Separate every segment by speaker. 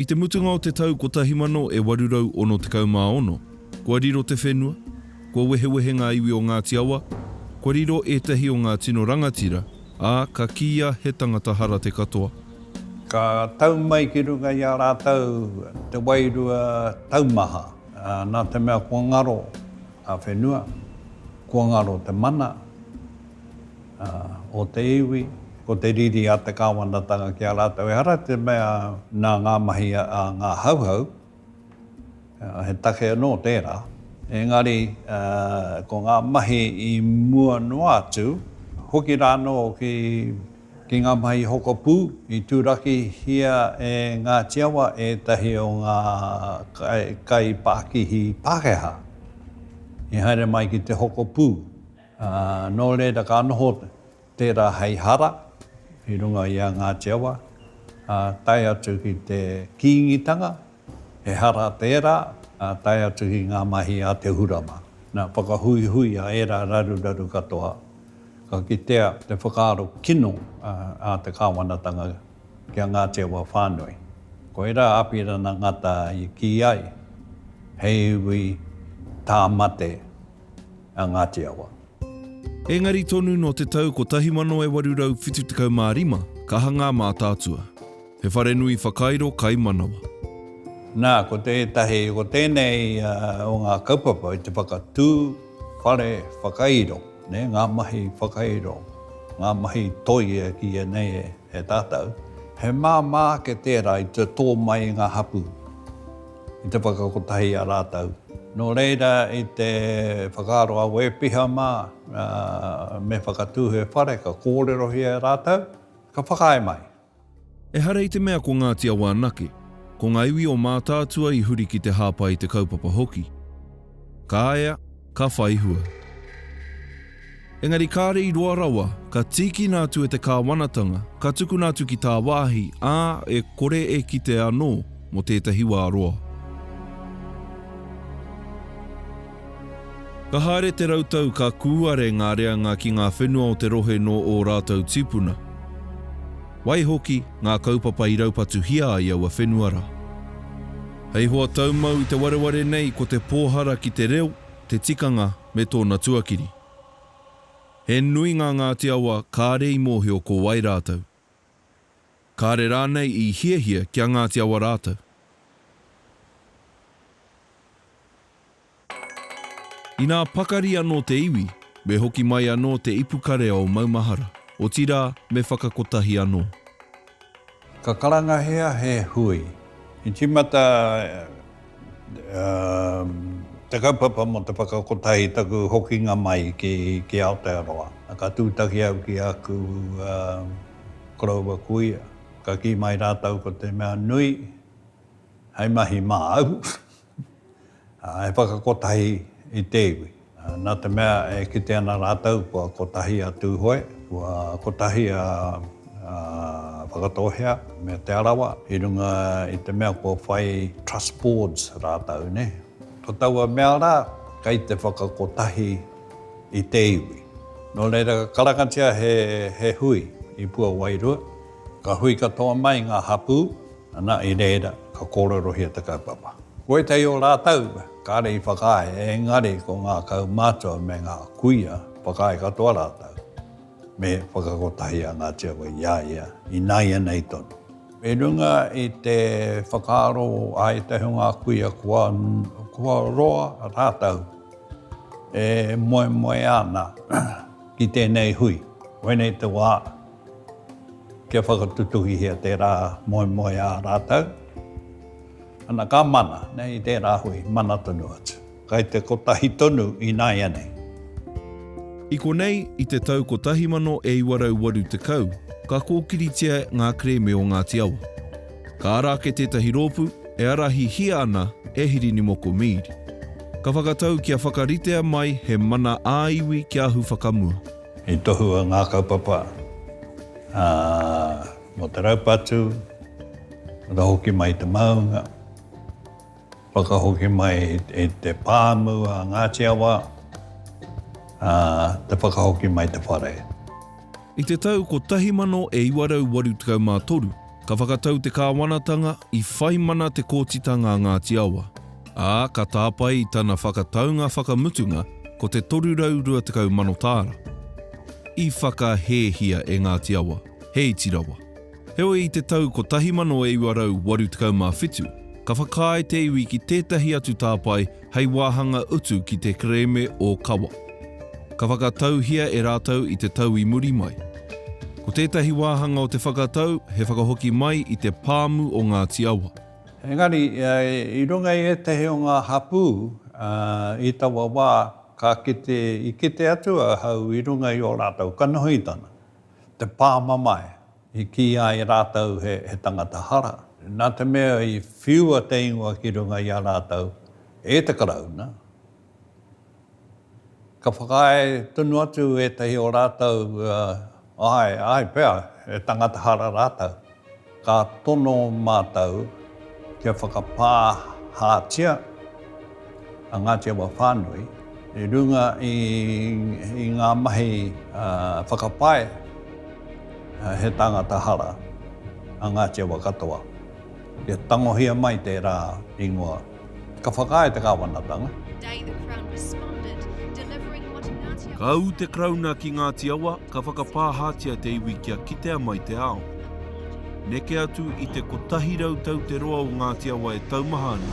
Speaker 1: I te mutunga o te tau 1866, kua riro te whenua, kua wehewehe ngā iwi o Ngāti Awa, kua riro ētahi o ngā tino rangatira, ā, ka kīia he tangata hara te katoa. Ka
Speaker 2: tau mai ki runga i a rātou te wairua taumaha, nā te mea kua ngaro ngā whenua, kua ngaro te mana, o te iwi, ko te riri a te Kāwanatanga ki a rātou. Ehara te mea nā ngā mahi a ngā Hauhau, he take anō tērā, engari ko ngā mahi i mua noa atu, hoki rānō ki Ki ngā mahi hoko pū, i tūrakihia e Ngāti Awa ētahi o ngā kaipākihi Pākehā i haere mai ki te hoko pū, ā, nō reira ka noho tērā hei hara i runga i a Ngāti Awa, ā, tae atu ki te Kīngitanga. Ehara tērā, ā, tae atu ki ngā mahi a Te Hurama. Nā, whakahuihui a ērā raruraru katoa, ka kitea te whakaaro kino a te kāwanatanga ki a Ngāti Awa whānui. Koirā a Apirana Ngata i kī ai, hei iwi tāmate a Ngāti Awa. Engari
Speaker 1: tonu nō te tau 1875 ka hangā mātaatua. He wharenui whakairo kai manawa. Nā,
Speaker 2: ko tētahi, ko tēnei o ngā kaupapa i te whakatū whare whakairo, nē, ngā mahi whakairo, ngā mahi toi e kīia nei e tātou, he māmā ake tērā i te tō mai i ngā hapū, i te whakakotahi i a rātou. Nō reira, i te whakaaro a Wē Piha mā, me whakatū he whare, ka kōrerohia e rātou, ka whakaae mai. Ehara
Speaker 1: i te mea ko Ngāti Awa anake, ko ngā iwi o Mātaatua i huri ki te hāpai i te kaupapa hoki. Ka ea, ka whai hua. Engari kāre i roa rawa, ka tīkina atu e te kāwanatanga, ka tukuna atu ki tāwāhi, ā, e kore e kitea anō, mō tētahi wā roa. Ka haere te rautau ka kūare ngā reanga ki ngā whenua o te rohe nō ō rātou tīpuna. Waihoki, ngā kaupapa i raupatuhia ai aua whenua rā. Hei hoa taumau i te wareware nei ko te pōhara ki te reo, te tikanga me tōna tuakiri. He nui ngā Ngāti Awa kāre i mōhio ko wai rātou. Kāre rānei i hiahia ki a Ngāti Awa rātou. Inā pakari anō te iwi, me hoki mai anō te ipukarea o maumahara, otirā, me whakakotahi anō.
Speaker 2: Ka karangahia he hui. I tīmata. Te kaupapa mō te whakakotahi i taku hokinga mai ki Aotearoa. Ka tūtaki au ki āku koroua kuia, ka kī mai rātou ko te mea nui hei mahi māu, he whakakotahi i te iwi. Nā te mea e kite ana rātou kua kotahi a Tūhoe, kua kotahi a Whakatōhea me Te Arawa i runga i te mea kua whai Trust Boards rātou, nē. Ko taua mea rā, kei te whakakotahi i te iwi. Nō reira, ka karangatia he hui i Puawairua, ka hui katoa mai ngā hapū. Ana i reira ka kōrerohia te kaupapa. Ko ētahi o rātou kāre i whakaae, engari ko ngā kaumātua me ngā kuia whakaae katoa rātou me whakakotahi a Ngāti Awa i a ia ināianei tonu. I runga i te whakaaro a ētahi o ngā kuia kua roa rātou e moemoea ana ki tēnei hui, koinei te wā. Kia whakatutuhihia tērā moemoeā rātou. Ana ka mana, nei i tērā hui, mana tonu atu. Kai te kotahi tonu ināianei.
Speaker 1: I konei, i te tau 1980, ka kōkiritia ngā kerēme o Ngāti Awa. Ka ara ake tētahi rōpū, e arahihia ana e Hirinimoko Mead. Ka whakatau kia whakaritea mai he mana ā-iwi kia ahu whakamua. I tohua
Speaker 2: ngā kaupapa mō te raupatu, whakahoki mai i te maunga, whakahoki mai i te pāmu a Ngāti Awa, te whakahoki mai i te whare.
Speaker 1: I te
Speaker 2: tau
Speaker 1: 1983, Ka whakatau te kāwanatanga i whai mana te kōtitanga a Ngāti Awa, ā, ka tāpae i tana whakataunga whakamutunga ko te 320 mano tāra. I whakahēhia e Ngāti Awa, he iti rawa. Heoi i te tau 1987, ka whakaae te iwi ki tētahi atu tāpae hei wāhanga utu ki te kerēme o Kawa. Ka whakatauhia e rātou i te tau i muri mai. Ko tētahi wāhanga o te whakatau he whakahoki mai i te pāmu o Ngāti Awa. Engari,
Speaker 2: i runga i ētahi o ngā hapū i taua wā, ka kite, i kite atu ahau i runga i ō rātou kanohitanga, te pāmamae, I kīia e rātou he tangata hara, nā te mea i whiua te ingoa ki runga i a rātou e te Karauna. Ka whakaae tonu atu ētahi o rātou, āe, āe pea, he tangata hara rātou. Ka tono mātou kia whakapāhātia. a Ngāti Awa whānui i runga i, i ngā mahi uh, whakapae uh, he tāngata hara a Ngāti Awa katoa. Kia tangohia mai tērā ingoa. Ka whakaae te kāwanatanga.
Speaker 1: Ka ū te Karauna ki Ngāti Awa, ka whakapāhātia te iwi kia kitea mai te ao. Neke atu i te 100 tau te roa o Ngāti Awa e taumaha ana,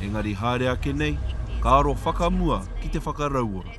Speaker 1: engari haere ake nei, ka aro whakamua ki te whakarauora.